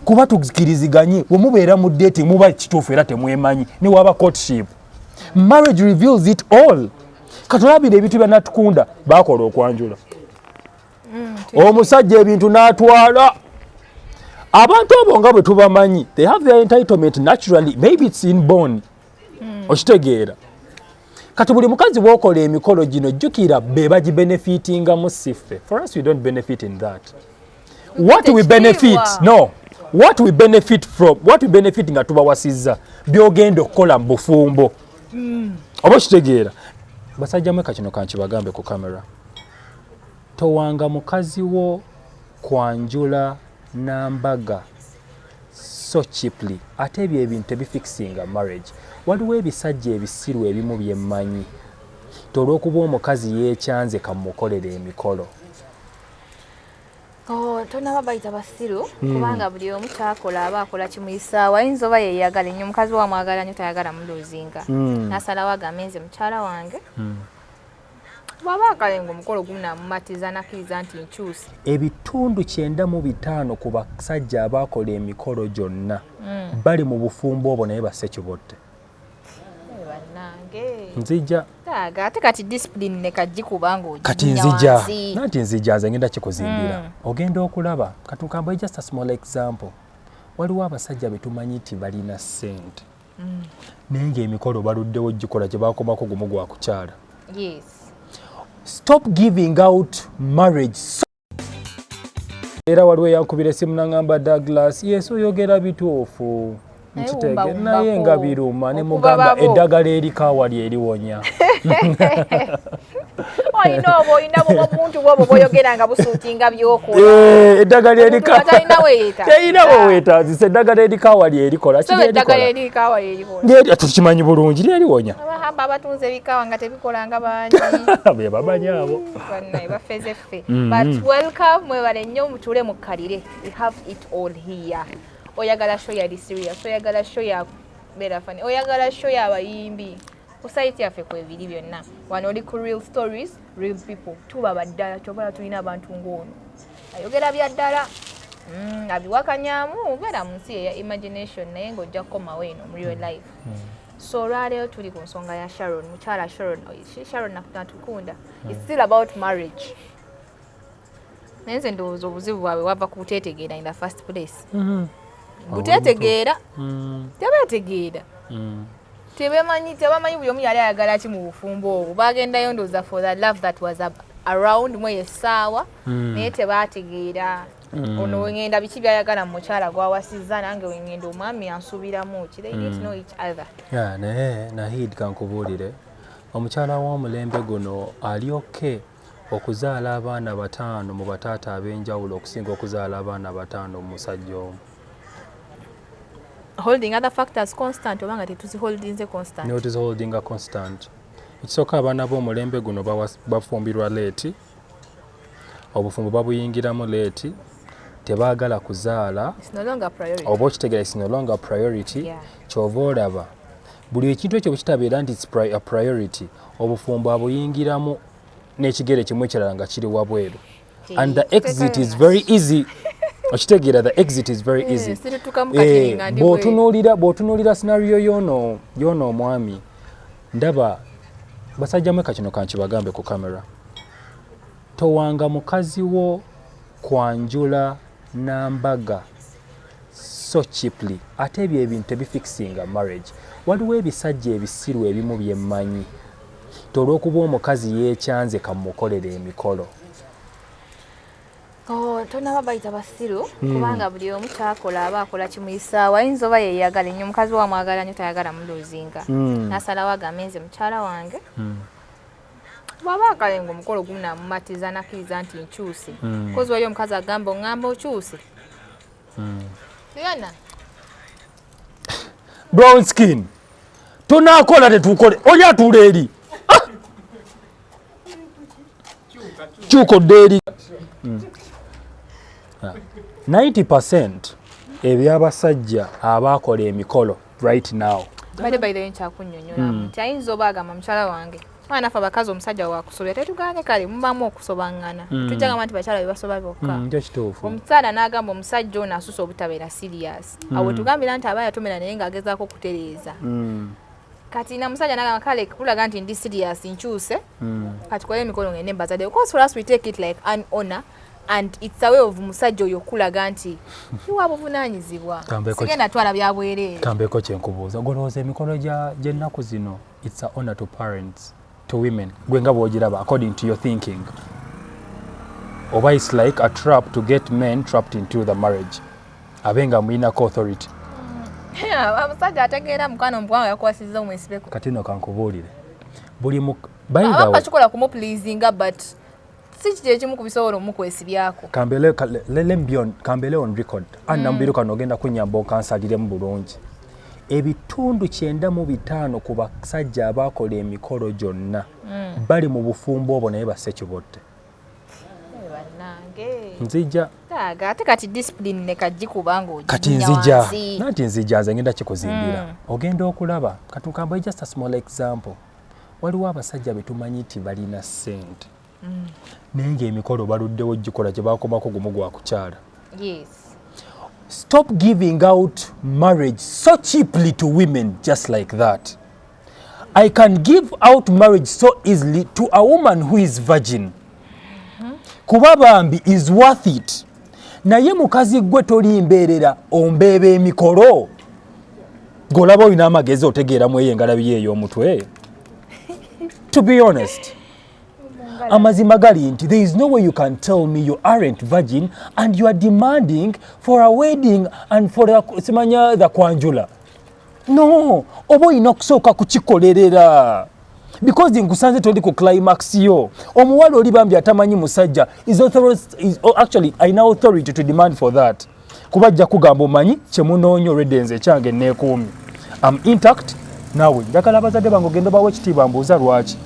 kuba tukiriziganye wemubeera mu date muba kituufu era temwemanyi newaba courtship marriage reveals it all katulabira ebintu byanatukunda bakola okwanjula mm, omusajja ebintu natwala abantu abo nga bwe tubamanyi they have their entitlement naturally maybe it's in born mm. okitegeera kati buli mukazi wokola emikolo gino jukira be bagi benefitinga mu siffe for us we don't benefit in that what we benefit no what we benefit from what we benefit nga tubawasizza byogenda okukola mu bufumbo mm. oba okitegeera basajja mweka kino kankibagambe ku kamera towanga mukazi wo kwanjula nambaga so cheaply ate ebyo ebintu tebifixinga marriage waliwo ebisajja ebisiru ebimu byemmanyi ti olwokuba omukazi yekyanze kamukolera emikolo oh, tonaba bayita basiru hmm. kubanga buli omu kyakola aba akola kimuyisaawo ayinza oba yeyagala enyo omukazi wamwagala nyo tayagala muluzinga hmm. nasalawo agambe nze mukyala wange hmm. bwaba akale ngaomukolo gunamumatiza nakiriza nti nkyusa ebitundu kyenda mu bitaano ku basajja abaakola emikolo gyonna hmm. bali mu bufumbo obwo naye basse kibotte nzija ate kati discipline ne kajji kubanga oji kati nzija nanti nzija nze ngenda kikuzimbira mm. ogenda okulaba kati nkamba just a small example waliwo abasajja betumanyi nti balina sente mm. naye ngaemikolo baluddewo gikola gyebakomako gumu gwa kukyala stop giving out marriage so era waliwo eyankubira esimu nangamba douglas yesu oyogera bituufu nkitege naye nga biruma ne mugamba eddagala erikaawa lyeriwonya olina obwo olina bwomuntu bwobo bwoyogera nga busuutinga byokolaaeddagala eh, erikaerina wewetazisa eddagala erikawa lyerikola tukimanyi bulungi lyerionya abatunze ebikawa nga tebikolanga bangi bebamanyi abo bafezeffe mm-hmm. but welcome mwebale nnyo mutule mukkalire we have it all here oyagala show yali serious oyagala show ya berafani oyagala show yabayimbi ku sayiti yaffe kwebiri byonna wano oli ku real stories real people tuba baddala kyobala tulina abantu ng'ono ayogera bya ddala mm, abiwakanyamu obeera mu nsi eya imagination naye ng'ojja kukomawo eno mu real life mm. so olwaleero tuli ku nsonga ya sharon mukyala sharon oh, sharon nakunatukunda its still about marriage naye nze ndowooza obuzibu bwabwe wava ku buteetegeera in the first place mm-hmm. buteetegeera mm. tebeetegeera mm. tebemanyi tebamanyi buli omu yali ayagala ki mu bufumbo obwo bagendayo ndowooza for the love that was around mweyo essaawa mm. naye tebaategeera Mm. ono wengenda biki byayagala mu mukyala gwawasizza nange wengenda omwami yansuubiramu ki they didn't mm. know each other naye nahid kankubuulire omukyala w'omulembe guno ali oke Okuzaala abaana bataano mu bataata ab'enjawulo okusinga okuzaala abaana bataano mu musajja omu. Holding other factors constant oba nga tetuziholdinze constant. No, tuziholdinga constant. Ekisooka abaana b'omulembe guno bafumbirwa leeti, obufumbo babuyingiramu leeti, tebaagala kuzaala oba okitegera is no longer priority kyova olaba buli ekintu ekyo bwekitabeera nti a priority obufumbo abuyingiramu n'ekigere kimu ekirala nga kiri wabweru and the exit is very easy okitegeera the exit is very eh, easy eh, bwotunuulira bwotunuulira scenario yono yono omwami ndaba basajja mweka kino kankibagambe ku camera towanga mukazi wo kwanjula nambaga so cheaply ate ebyo ebintu tebifixinga marriage waliwo ebisajja ebisiru ebimu byemmanyi ti olwokuba omukazi yekyanze kamukolera emikolo oh, tonaba bayita basiru hmm. kubanga buli omu kyakola aba akola kimuyisaawo ayinza oba yeyagala enyo omukazi wamwagala nyo tayagala muluzinga hmm. nasalawo agambe nze mukyala wange hmm. bwaba akale nga omukolo gumu namumatiza nakiriza nti nkyuse hmm. kozi wali omukazi agamba ongamba okyuse hmm. yona brown skin tonakola tetukole oli atuula eri ah! kyuka odde eri 90 hmm. ebyabasajja abaakola emikolo right now bade by the way nkyakunyonyola mm. nti ayinza oba agamba mukyala wange mwana afe abakazi omusajja wakusobya tetugane kale mubamu okusobangana mm. tujja gamba nti bakyala bebasoba bokka mm, omukyala n'agamba omusajja ono asusa obutabeera serious mm. awo tugambira nti aba yatomera naye ng'agezaako okutereeza mm. kati na musajja nagamba kale kulaga nti ndi serious nkyuse mm. kati kola emikono ngende mbazadde because for us we take it like an honor and it's a way of musajja oyo okulaga nti iwa buvunanyizibwa sigenda twala byabwerere tambeko kyenkubuuza golowooza emikolo gyennaku zino it's a honor to parents to women gwe nga bwogiraba according to your thinking oba it's like a trap to get men trapped into the marriage abe nga mulinako authority mm. amusajja ategeera mukwano mukwawo yakwasiza omwesibeko kati no kankubuulire buli mu by the way kikola kumu pleasinga but si kiti ekimu ku bisobola omukwesibyako kambele on record anna mm. mubiru kano ogenda kunyamba okansaliremu bulungi ebitundu kyenda mu bitaano ku basajja abaakola emikolo gyonna mm. bali mu bufumbo obwo naye basekibotte eh, nzija ate kati discipline ne kajji kubanga oji kati nzija nanti nzija nze ngenda kikuzimbira mm. ogenda okulaba katukambo just a small example waliwo abasajja betumanyi nti balina sente mm. naye ngaemikolo baluddewo gikola gyebakomako gumu gwakukyala stop giving out marriage so cheaply to women just like that i can give out marriage so easily to a woman who is virgin mm-hmm. kuba bambi is worth it naye mukazi gwe toli mbeerera ombeeba emikolo golaba olina amagezi otegeera mu eyo engalabi ye ey'omutwe to be honest amazima gali nti there is no way you can tell me you aren't virgin and you are demanding for a wedding and for simanya the kwanjula no oba olina okusooka kukikolerera because nkusanze toli ku climax yo omuwala oli bambi atamanyi musajja oh, actually alina authority to demand for that kuba ajja kugamba omanyi kyemunoonya olwedenze ekyange neekuumi am intact naawe njagala abazadde bange ogenda obawo ekitiibwa mbuuza lwaki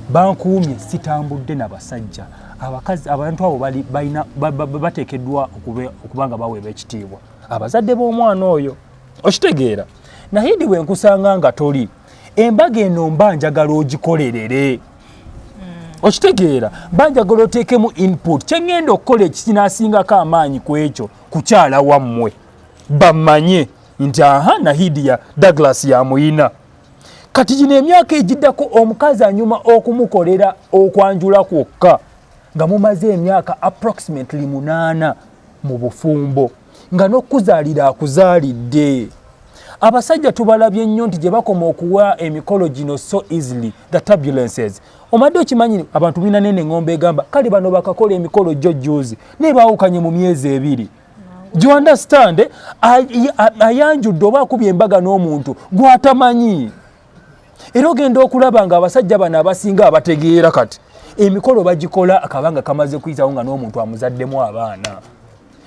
bankuumye sitambudde na basajja abakazi abantu abo bateekeddwa okuba nga baweebwa ekitiibwa abazadde b'omwana oyo okitegeera naye ndi wenkusanga nga toli embaga eno mba njagala ogikolerere okitegeera banjagala oteekemu input kyeŋŋenda okukola ekikinaasingako amaanyi ku ekyo kukyala wammwe bamanye nti aha nahidi ya douglas yamuyina kati gino emyaka egiddako omukazi anyuma okumukolera okwanjula kwokka nga mumaze emyaka approximately munaana mu bufumbo nga n'okuzaalira akuzaalidde abasajja tubalabye nnyo nti gye bakoma okuwa emikolo gino so easily the turbulences omadde okimanyi abantu bina nene ngombe egamba kale bano bakakola emikolo jjo juuzi naye baawukanye mu myezi ebiri you understand ayanjudde oba akubye embaga n'omuntu gwatamanyi era ogenda okulaba nga abasajja bano abasinga abategeera kati emikolo bagikola akabanga kamaze kuyitawo nga n'omuntu amuzaddemu abaana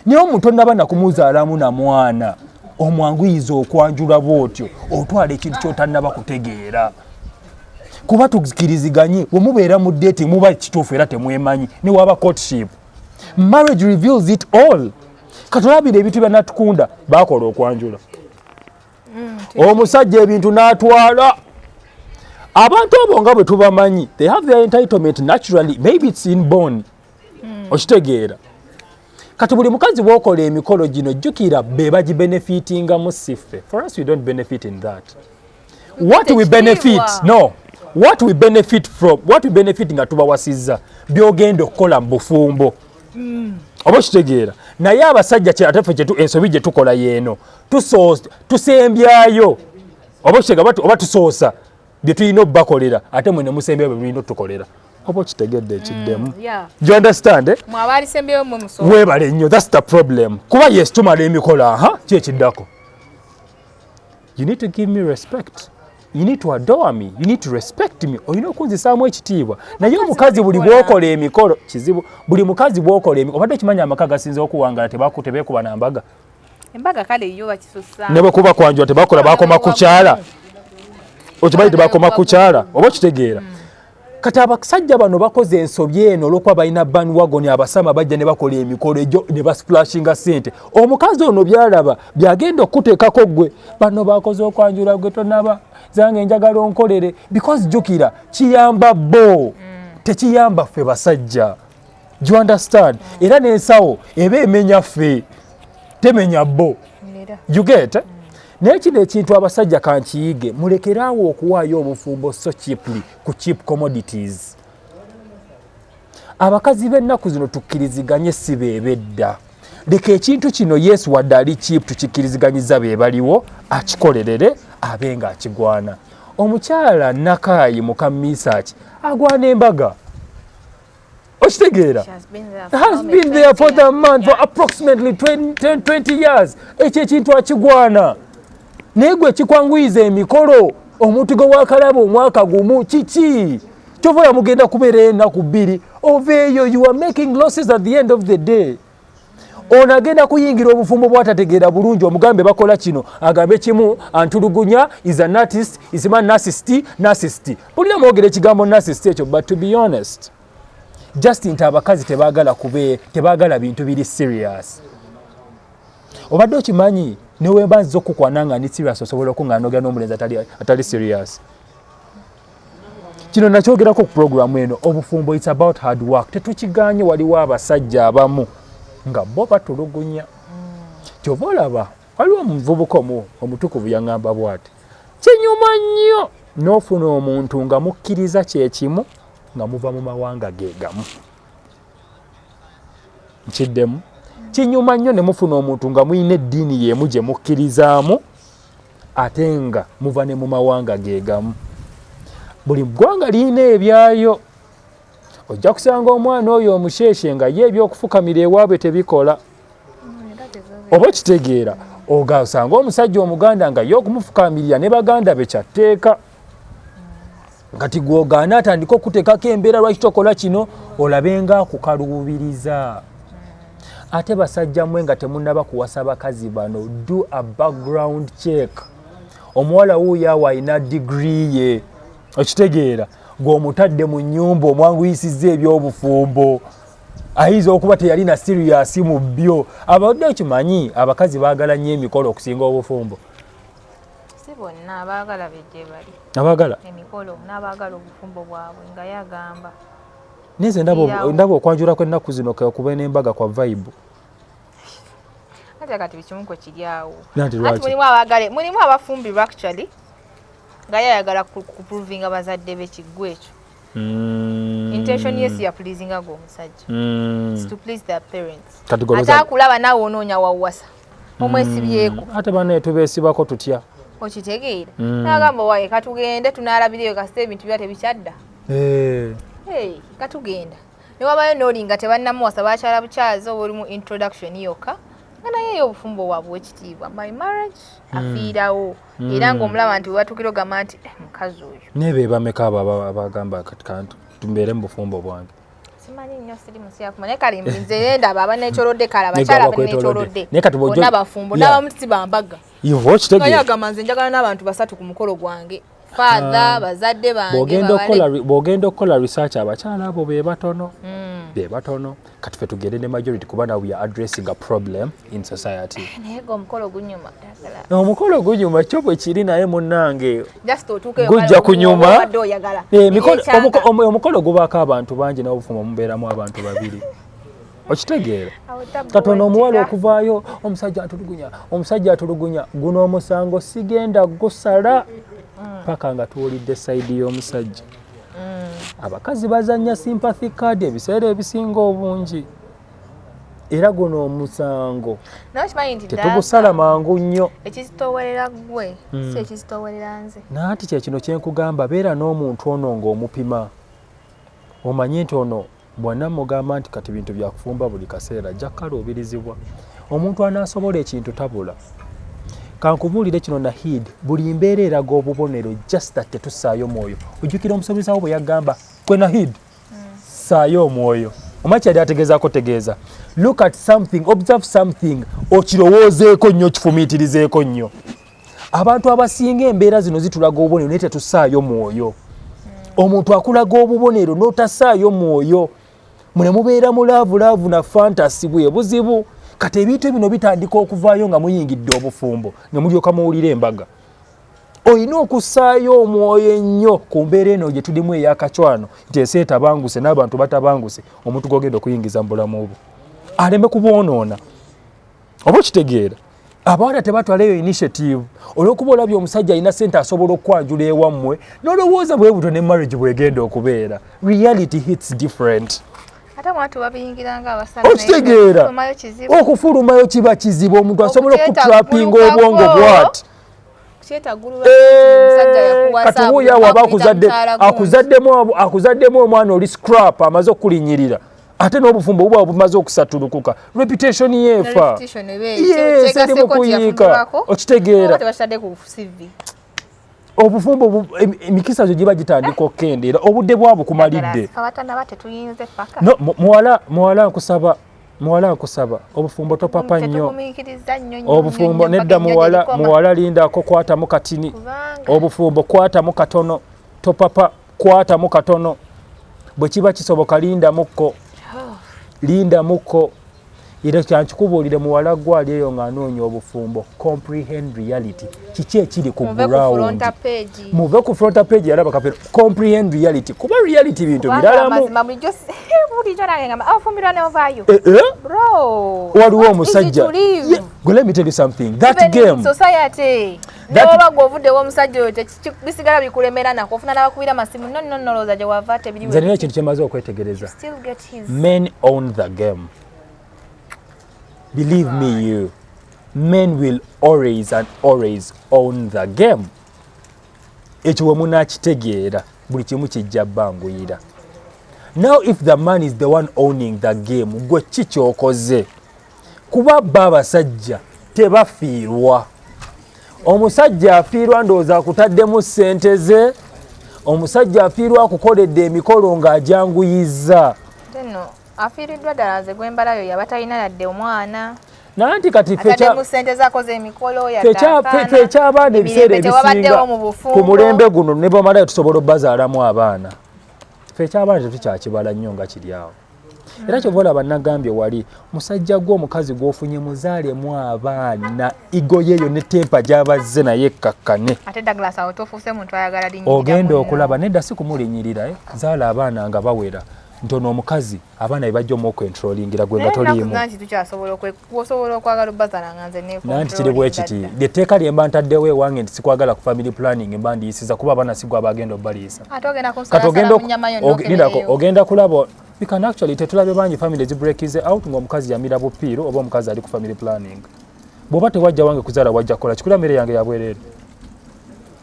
naye omuto naba nakumuzaalamu na mwana omwanguyiza okwanjula bwotyo otwala ekintu kyotanaba kutegeera kuba tukiriziganye wemubeera mu deti muba kituufu era temwemanyi newaba courtship marriage reveals it all katulabira ebintu byanatukunda bakola okwanjula mm, omusajja ebintu natwala abantu abo nga bwe tubamanyi they have their entitlement naturally maybe it's in born mm. okitegeera kati buli mukazi bwokola emikolo gino jjukira be bagibenefitingamu siffe for us we don't benefit in that what we benefit no what we benefit from what we benefit nga tubawasizza byogenda okukola mu bufumbo mm. oba okitegeera naye abasajja ate fe ensobi gye tukola yeeno tusembyayo oba kitega oba tusoosa bye tulina obubakolera ate mwe nemusembyayo bye mulina otutukolera oba okitegedde ekiddemu mm, you understand eh? webale nnyo thats the problem kuba yes tumala emikola aha ki ekiddako you need to give me respect you need to adore me you need to respect me olina okunzisaamu ekitiibwa naye omukazi buli bwokola emikolo kizibu buli mukazi bwokola emikolo obadde okimanya amaka gasinza okuwangala tebakutebekuba nambaga mm. embaga kale yo bakisusa ne bwe kuba kwanjwa tebakola bakoma kukyala okibayi tebakoma kukyala oba okitegeera mm. kati abasajja bano bakoze ensobi eno olwokuba balina banwagon abasama bajja ne bakola emikolo egyo ne basplashinga sente omukazi ono byalaba byagenda okukuteekako gwe bano bakoze okwanjula gwe tonaba zange njagala onkolere because jukira kiyamba bo mm. tekiyamba ffe basajja you understand mm. era nensawo eba emenya fe temenya bo you get mm. naye kino ekintu abasajja kankiyige mulekeraawo okuwaayo obufumbo so cheaply ku cheap commodities abakazi b'ennaku zino tukkiriziganye si beebedda leka ekintu kino yesu wadde ali cheap tukikkiriziganyiza be baliwo akikolerere abe nga akigwana omukyala nakaayi muka misaaki agwana embaga okitegeera has been there for the man for approximately 20 years ekyo ekintu akigwana naye gwe kikwanguyiza emikolo omuntu gwe wakalaba omwaka gumu kiki kyova oya mugenda kubeera enaku bbiri oveeyo you are making losses at the end of the day ono agenda kuyingira obufumbo bwatategeera bulungi omugambe bakola kino agambe kimu antulugunya is an artist is ma narcist narcist bulina mwogera ekigambo narcist ekyo but to be honest just nti abakazi tebagala kube tebagala bintu biri serious obadde okimanyi newemba nziza okukwana nga ndi serious osobola okunganogera n'omulenzi atali serious kino nakyogerako ku pulogulaamu eno obufumbo its about hard work tetukiganye waliwo abasajja abamu nga bo batulugunya kyova olaba waliwo omuvubuka omu omutukuvu yaŋamba bwati kinyuma nnyo n'ofuna omuntu nga mukkiriza kyekimu nga muva mu mawanga gegamu nkiddemu kinyuma nnyo ne mufuna omuntu nga mulina eddiini y'emu gye mukkirizaamu ate nga muva ne mu mawanga gegamu buli ggwanga lirina ebyayo ojja kusanga omwana oyo omusheshe nga ye ebyokufukamira ewaabwe tebikola oba okitegeera ogasanga omusajja omuganda nga ye okumufukamirira ne baganda be kyatteeka kati gwogaana atandika okutekako embeera lwaki tokola kino olabe nga akukaluubiriza ate basajja mwe nga temunaba kuwasa bakazi bano do a background check omuwala wuuyo awo alina digiri ye okitegeera gweomutadde mu nyumba omwanguyisiza ebyobufumbo ayinza okuba teyalina siriyasi mu byo abadde okimanyi abakazi baagala nnyo emikolo okusinga obufumbo si bonna abaagala be gye bali abaagala emikolo n'abaagala obufumbo bwabwe nga yagamba naye nze ndaba okwanjula kw'ennaku zino kekuba n'embaga kwa vibe kati kati bikimu kwe kiri awo ati mulimu abagale mulimu abafumbirwa actually nga yayagala kuprovinga bazadde be kiggwa ekyo mm. intention yes ya pleasinga gwe omusajja mm. to please their parents ate akulaba naawe onoonya wawasa omwesibyeko mm, ate banaye tubesibako tutya okitegeera mm. nagamba waye katugende tunalabiriyo kasita ebintu bya tebikyadda eh. katugenda newabayo nolinga tebanamuwasa bakyala bukyazi oba oli mu introduction yokka nga naye yo obufumbo wabwe wekitiibwa my marriage mm. afiirawo mm. era ngaomulaba nti webatukira ogamba nti eh, mukazi oyo naye bebameka abo abagamba kati kantu tumbeere mu bufumbo bwange simanyi nnyo siri musyafu naye kale nze yendaba aba nekyolodde kale abakyala aba nekyolodde bonna bafumbo n'abamu si bambaga naye agamba nze njagala n'abantu basatu ku mukolo gwange father ah. bazadde bangebwogenda okukola research abakyala abo be batono hmm. be batono kati fe tugende ne majority kuba nawe ya addressing a problem mm. in society eh, naye go omukolo gunyuma no omukolo gunyuma kyo bwe kiri naye munnange just otuke gujja kunyuma eh, omukolo gubaako abantu bangi nawe obufuma mubeeramu abantu babiri okitegeera katonda omuwala okuvaayo omusajja atulugunya omusajja atulugunya guno omusango sigenda gusala mm. paka nga tuwulidde sayidi y'omusajja mm. abakazi bazanya sympathy card ebiseera ebisinga obungi era guno omusango tetugusala mangu nnyo ekizitowerera gwe hmm. si ekizitowerera nze nanti kyekino kyenkugamba beera n'omuntu ono ng'omupima omanye nti ono bwana mugamba nti kati bintu byakufumba buli kaseera ajja kukaluubirizibwa omuntu anaasobola ekintu tabula kankubuulire kino nahid buli mbeera eraga obubonero just that tetussaayo mwoyo ojjukira omusomesa wo bwe yagamba kwe nahid saayo omwoyo omwa kyali ategeezako tegeeza look at something observe something okirowoozeeko nnyo okifumiitirizeeko nnyo abantu abasinga embeera zino zitulaga obubonero naye tetusaayo mwoyo omuntu akulaga obubonero n'otasaayo mwoyo mune mubeera mu laavu laavu na fantasi bwe buzibu kati ebintu bino bitandika okuvaayo nga muyingidde obufumbo ne mulyoka muwulira embaga olina okussaayo omwoyo ennyo ku mbeera eno gye tulimu eyakacwano nti ensi etabanguse n'abantu batabanguse omuntu gogenda okuyingiza mu bulamu obwo aleme kubwonoona oba okitegeera abawala tebatwala eyo initiative olwokuba olabye omusajja alina sente asobola okukwanjula ewammwe nolowooza bwebuto ne marriage bwegenda okubeera reality hits different okitegeera okufulumayo kiba kizibu omuntu asobola okutrapinga obwongo bwati katuwuya waba akuzaddemu omwana oli scrap amaze okukulinyirira ate n'obufumbo buba bumaze okusatulukuka reputation yeefa erimu kuyiika okitegeera obufumbo emikisa gyo giba gitandika okukendeera obudde bwabwe kumalidde muwala nkusaba muwala nkusaba obufumbo topapa nnyo obufumbo nedda muwala muwala lindako kwatamu katini obufumbo kwatamu katono topapa kwatamu katono bwe kiba kisoboka lindamukko oh. lindamukko era kyankikubuulire muwala gwe ali eyo ng'anoonya obufumbo comprehend reality kiki ekiri ku ground muve ku fronta page yalaba kapero comprehend reality kuba reality bintu biralamu eh, eh? waliwo omusajja let me tell you something that game society noba gwovudewo omusajja oyo bisigala bikulemera nako ofuna nabakubira masimu nononolowooza gyewava tebiriwe nina ekintu kyemaze okwetegereza men own the game believe me you men will always and always own the game ekyo we munaakitegeera buli kimu kijja banguyira now if the man is the one owning the game gwe ki kyokoze kuba ba abasajja tebafiirwa omusajja afiirwa ndowooza akutaddemu ssente ze omusajja afiirwa akukoledde emikolo ng'ajanguyizza Afiiriddwa ddala nze gwembalayo yaba talina yadde omwana. Nanti kati fecha mu sente zako ze mikolo ya fecha fecha abana ebiseera ebisinga ku mulembe guno ne bamala tusobola bazaala mu abana. Fecha abana tetu kya kibala nnyo nga kiri awo. Era kyo vola banagambye wali musajja gwo omukazi gwofunye muzaale mu abana igoye yo ne tempa gyabazze naye kakkane. Ate Douglas awo tofuse muntu ayagala dinyi. Ogenda okulaba nedda sikumulinyirira eh zaala abana nga bawera. nti ono omukazi abaana bebajja omuokwentrolingira gwe nga toliimunanti kiri bwekiti etteeka lyemba ntaddewo ewange nti sikwagala ku family planning emba ndiyisiza kuba abaana sigwa bagenda obaliyisa ogenda kulaba you can actually tetulabe bangi family zibreakize out ngaomukazi yamira bupiiro oba omukazi ali ku family planning bwoba tewajja wange kuzaala wajja kukola kikula mmere yange yabwerere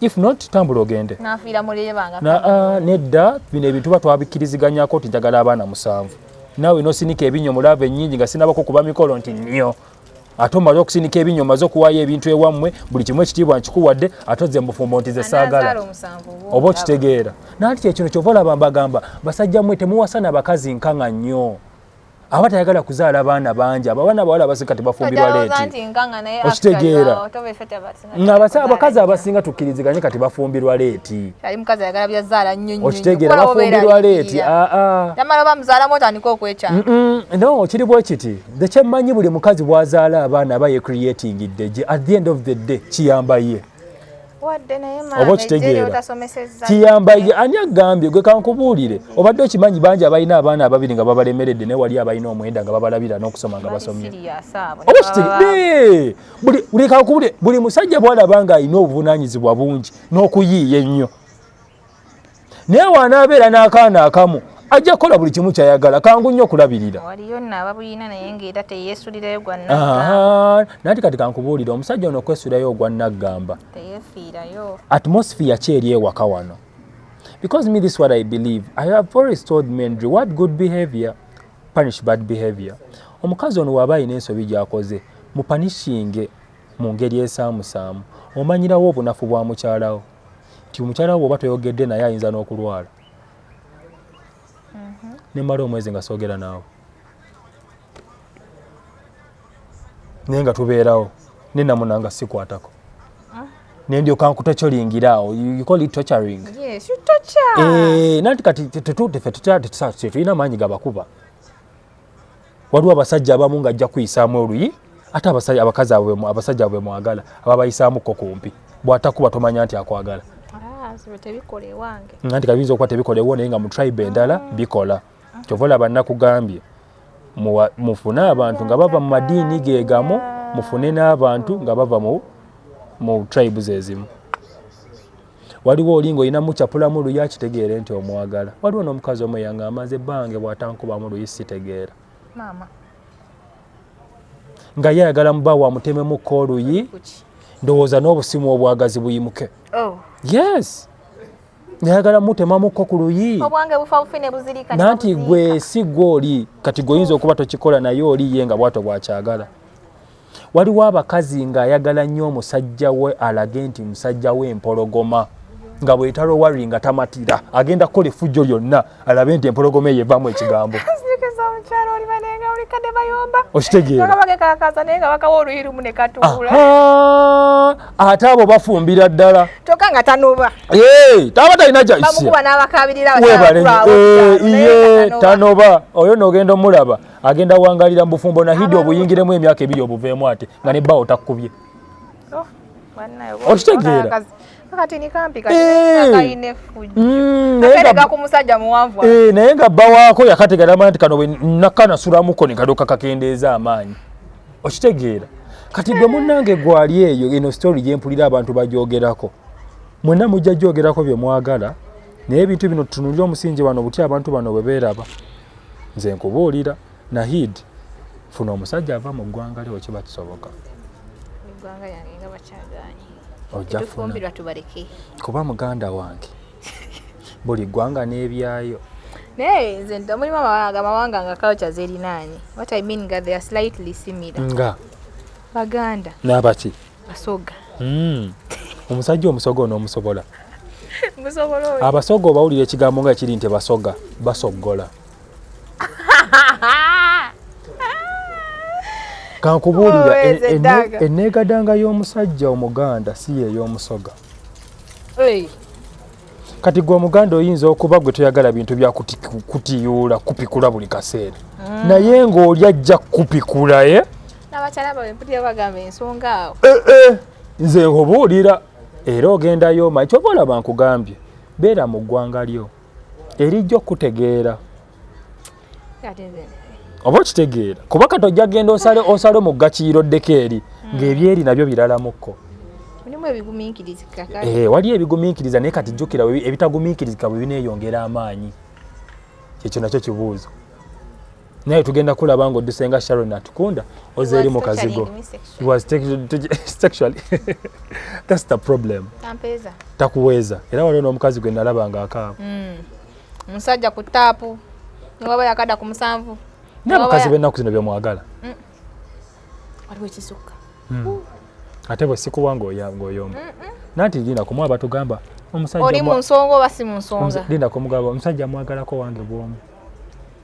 if not tambula ogende nafiira mulebanga na ah, nedda bino ebintu ba twabikkiriziganyako nti njagala abaana musanvu nawe nosinika ebinyo mulava ennyingi nga sinabako kuba mikolo nti nnyo ate omaze okusinika ebinyo omaze okuwaayo ebintu ewammwe buli kimu ekitiibwa nkikuwadde ate ozze mubufumbo nti ze saagala oba okitegeera nanti kyekino kyova olaba mbagamba basajja mmwe temuwasana bakazi nkanga nnyo aba tayagala kuzaala baana bangi abaana abawala abasika tebafumbirwa leeti okitegeera ng'abakazi abasinga tukkiriziganye kati bafumbirwa leeti okitegeera bafumbirwa leeti aa no kiri bwe kiti ekyemmanyi buli mukazi bw'azaala abaana aba yecreatingidde gye at the end of the day kiyamba ye oba okitegeera kiyamba ani agambye gwe kankubuulire obadde okimanyi bangi abalina abaana ababiri nga babalemeredde naye wali abalina omwenda nga babalabira n'okusoma nga basomye buli musajja bwalaba nga alina obuvunanyizibwa bungi n'okuyiiya ennyo naye wanaabeera n'akaana akamu ajja kukola buli kimu kyayagala kangu nnyo okulabirira nanti kati kankubuulira omusajja ono okwesulayo ogwa naggamba atmosphere ki eri ewaka wano because me this what i believe i have always told men reward good behavior punish bad behavior omukazi ono waaba alina ensobi gyakoze mupanishinge mu ngeri esaamusaamu omanyirawo obunafu bwa mukyalawo nti omukyala wo bwoba toyogedde naye ayinza n'okulwala mhm. nemala omwezi nga soogera naawe naye nga tubeerawo nenamuna nga sikwatako ah. nendyoka nkutocoringiraawo ucolitocaring eh, nanti kati tetutulina maanyi gabakuba waliwo abasajja abamu nga ajja kuyisaamu oluyi ate abasajja abakazi abo abasajja abo bemwagala aba bayisaamu ko kumpi bw'atakuba tomanya nti akwagala ah, nga nti kabiyinza okuba tebikola ewo naye nga mu tribe endala ah. bikola kyova olaba nakugambye mufune abantu nga bava mu madiini gegamu mufune n'abantu nga bava mu tribes ezimu waliwo oli ng'olina mucapulamu luyi akitegeere nti omwagala waliwo n'omukazi omu eyanga amaze bange bw'atankubamu luyi sitegeera nga ye ayagala muba wamutememukko oluyi ndowooza n'obusimu obwagazi buyimuke oh. yes nayagala mutemamukko ku luyi nanti gwe si gwe oli kati gweoyinza okuba tokikola naye oli ye nga bwato bwakyagala waliwo abakazi ng'ayagala nnyo omusajja we alage nti musajja we empologoma nga bwetalo wari nga tamatira agenda kukola effujjo lyonna alabe nti empologoma eyo evamu ekigambo ate abo bafumbira ddala taba talina kyaiye tanoba oyo nogenda omulaba agenda wangalira mubufumbo nahidi obuyingiremu emyaka ebiri obuveemu ate nga ne bbawo takkubye oh, okitegeera naye nga bbawaako eh, yakategeramana nti kano nakanasulamuko nekadoka kakendeeza amaanyi okitegeera kati gwe munange gwali eyo eno story gyempulira abantu bajogerako mwena mujja jogerako byemwagala naye ebintu bino tutunulira omusingi wano butya abantu bano bwe beeraba nze nkubuulira nahid funa omusajja ava mu ggwanga lyo wekiba kisoboka ojjafuna kuba muganda wange buli ggwanga n'ebyayo naye nze nti mulimu amawanga amawanga nga culture zerinaanye what i mean nga they are slightly similar nga baganda n'abaki Basoga. Mm. Omusajja omusoga onoomusobola. Musobola oyo. Abasoga obawulira ekigambo nga kiri nti basoga, basoggola. Kankubuulira oh, enneegadanga y'omusajja Omuganda si yeey'omusoga. Hey. kati gwe omuganda oyinza okuba gwe toyagala bintu bya kutiyuula kupikula buli kaseera mm. naye ng'oli ajja kupikula e eh? n'abakyala bawe mpulira bagamba ensonga awo eh, eh, nze nkubuulira era ogendayo omanyi kyova olaba nkugambye beera mu ggwanga lyo erijja okukutegeera oba okitegeera kuba kati ojja genda osale osale mu ggakiiro oddeko eri hmm. ng'ebyeri nabyo biralamukko eh, waliyo ebigumiikiriza naye kati jjukira ebitagumiikirizika bwe bineeyongera amaanyi kyekyo nakyo kibuuzo naye tugenda kulaba nga odduse nga sharon atukunda oze eri mu kazigo thats the problem takuweeza era waliwo n'omukazi gwe nalaba nga akaaba hmm. omusajja ku taapu newaba yakada ku musanvu naye abakazi bennaku zino byemwagala hmm. waliwo ekisukka hmm. ate bwe sikuwa ng'oyomba nanti lina kumu abatugamba omusajja oli mu nsonga oba si mu nsonga linda kumugamba omusajja amwagalako wange bwomu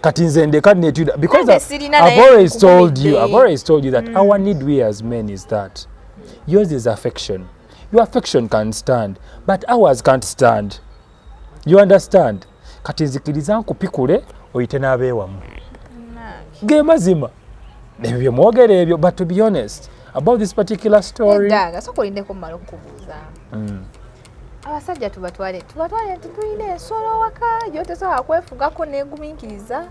kati nze ndeka netuda because I've always told you I've always told you that mm. our need we as men is that yours is affection your affection can stand but ours can't stand you understand kati nzikiriza nkupikule oyite n'abeewamu ge mazima ebyo bye mwogera ebyo but to be honest about this particular story mm. abasajja tubatwale tubatwale nti tulina ensolo waka gyotesobola kwefugako neguminkiriza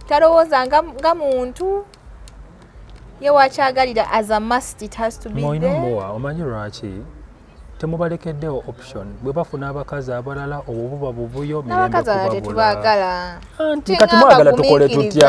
talowooza nga muntu ye wakyagalira as a must it has to be there mowa omanyi lwaki temubalekeddewo option bwe bafuna abakazi abalala obwo buba buvuyo mirembe kubabula anti kati mwagala tukole tutya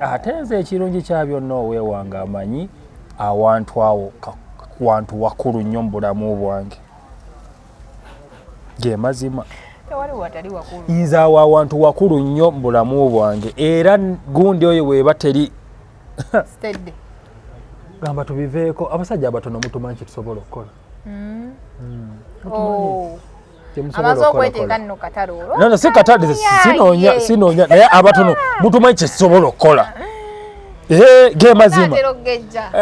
ate nze ekirungi kya byonna oweewanga amanyi awantu awo wantu wakulu nnyo mu bulamu bwange ge mazima nze awo awantu wakulu nnyo mu bulamu bwange era gundi oyo weeba teri gamba tubiveeko abasajja abatono mutumanyi kyetusobola okukola hmm. Hmm. Oh. amaze okweteeka nno katale olwo nana si katale sinoonya sinoonya naye abatono mutumanyi kyesobola okukola ge mazima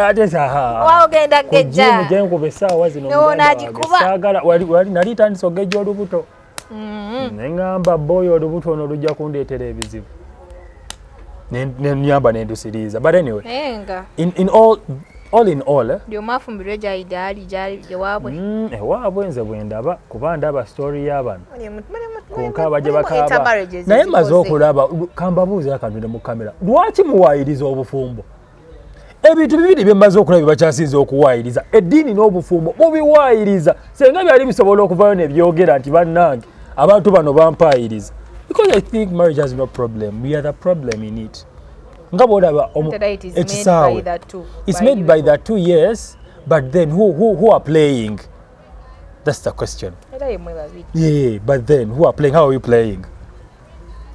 atesaaogenda gejja genkuba essaawa zinosaagala wali nali tandisa ogejja olubuto mm-hmm. neŋamba boyo olubuto ono lujja kundeetera ebizibu nenyamba nendusiriiza but anyway enga in, in all all in all eh? lyomafumbirwe gyali gyali gyali ewaabwe mm, ewaabwe eh, nze bwendaba kuba ndaba story y'abano konka baje bakaaba naye maze okulaba kambabuuza akantu ne mu kamera lwaki muwaayiriza obufumbo ebintu bibiri byemmaze okulaba byebakyasinza okuwaayiriza eddiini n'obufumbo bubiwaayiriza senga byali bisobola okuvayo nebyogera nti bannange abantu bano bampaayiriza because i think marriage has no problem we are the problem in it nga bwolaba ekisaawe its made by the two yes but then who, who, who are playing that's the question yeah, but then who are playing how are we playing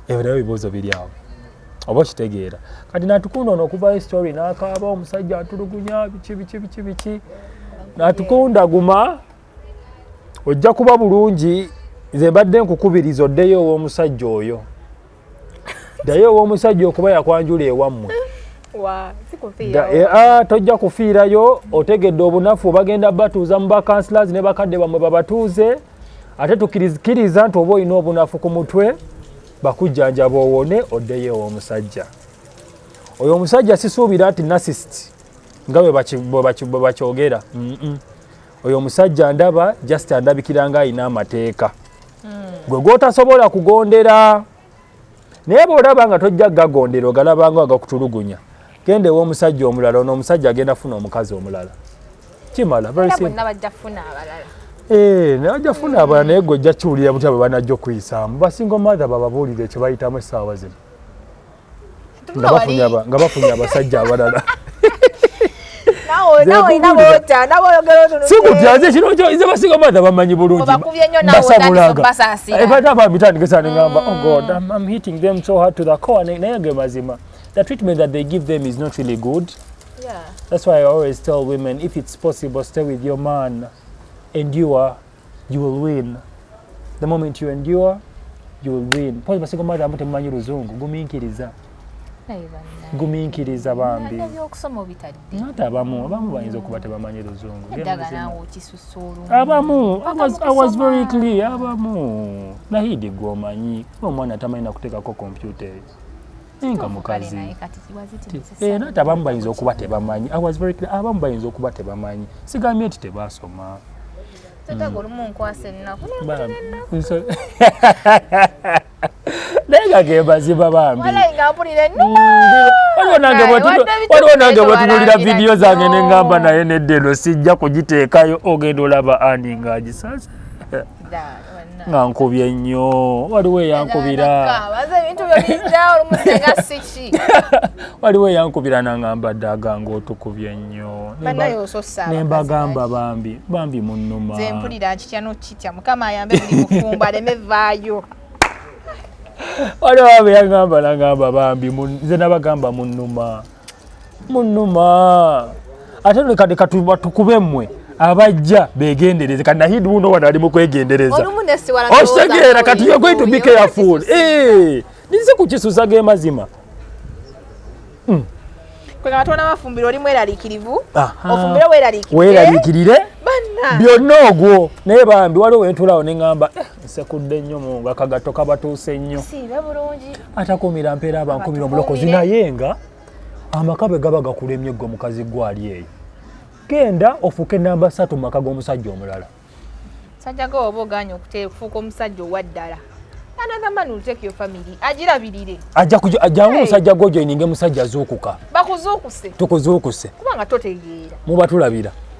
ebyo nabyo bibuuzo biri awo oba okitegeera kati natukunda ono okuvayo story nakaaba omusajja atulugunya biki biki biki biki natukunda guma ojja kuba bulungi nze mbadde nkukubiriza oddeyo ow'omusajja oyo ddayo ow'omusajja okuba yakwanjula ewammwe eh, ah, tojja kufiirayo otegedde obunafu bagenda batuuza mu bakansilazi ne bakadde bammwe babatuuze ate tukirizikiriza nti oba olina obunafu ku mutwe bakujjanjaba owone oddeyo ew'omusajja oyo omusajja sisuubira nti nasist nga bwe bakyogera oyo omusajja ndaba just andabikira nga alina amateeka hmm. gwe gwotasobola kugondera naye bwolaba nga tojja gagondera ogalabanga agakutulugunya genda ewomusajja omulala ono omusajja agenda funa omukazi omulala kimala bajja funa abalala eh, hmm. naye gwe ojja kiwulira butya bwe banajja okuyisaamu basinga omatha bababuulire kyebayitamu essaawa zino nga bafunye abasajja abalala sikutyaze kino kyoize basiga bada bamanyi bulungibasabulagaebata bamitandikisa nengamba oh god I'm, i'm hitting them so hard to the core naye ge mazima the treatment that they give them is not really good yeah. that's why i always tell women if it's possible stay with your man endure you will win the moment you endure you will win pozi basigo madamu temumanyi luzungu guminkiriza guminkiriza bambi ate abamu abamu bayinza okuba tebamanyi luzungu abamu i was very clear abamu nahidi gwomanyi omwana tamanyi nakutekako kompyuta eyo enga mukazi era nti abamu bayinza okuba tebamanyi abamu bayinza okuba tebamanyi sigambye nti tebasoma naye nga gemazima bambiwaliwo nange bwetunulira vidiyo zange nengamba naye nedde eno sijja kugiteekayo ogenda olaba ani nga agisasa nga nkubye nnyo waliwo eyankubira waliwo eyankubira nangamba ddaga ngaotukubye nnyo nembagamba bambi bambi munuma waliwo abe yagamba nangamba bambi nze nabagamba munuma munuma ate leka leka tukube mmwe abajja begendereze kati nahid wuno wano ali mukwegendereza okitegeera kati you're going to be careful eh, ninze kukisusa ge mazima hmm. weeraliikirire eh? byonna ogwo naye bambi waliwo wentulawo neŋamba eh, nsekudde nnyo mu nga kagatto kabatuuse nnyo atakuumira mpeera abankumira omulokozi naye nga amaka bwe gaba gakulemye gwe mukazi gwali eyo genda ofuuke namba satu mumaka g'omusajja omulala sajja ga oba oganye okufuuka omusajja owaddala another man will take your family ajirabirire ajja kujo ajja hey. musajja gojo ininge musajja zukuka bakuzuukuse tukuzuukuse kubanga totegeera muba tulabira